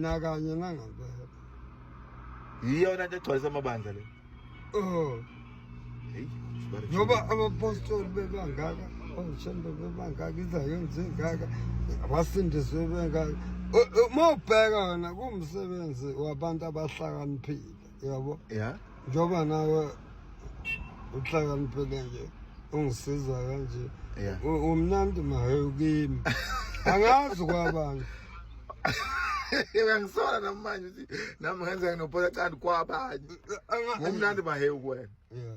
nakanye nangampela yiyona nto egcwalisa amabandla le oh ngoba abapostoli bebangaka oshembe bebangaka izayoni zingaka abasindiswe bengaka uma ubheka wena kuwumsebenzi wabantu abahlakaniphile yabo ya njengoba nawe uhlakaniphele nje ungisiza kanje ya U- umnandi mahewu kimi angazi kwabani uyangisola namanje ukuthi nami ngenza nginophola cani kwabanye Anga- ngumnandi mahewu kuwena Yeah.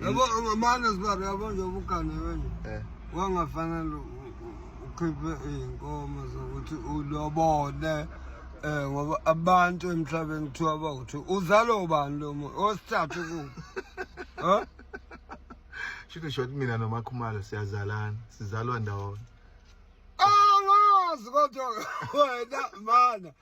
yabo amane sibari yabo nje ubugane wenje eh. wangafanele ukhiphe iy'nkomo zokuthi ulobole um ngoba abantu emhlabeni kuthiwa bawuthi uzalo ubani lo muntu osithathu ku um shouldn't short mina nomakhumalo siyazalana sizalwa ndawonye angazi kodwa wena mana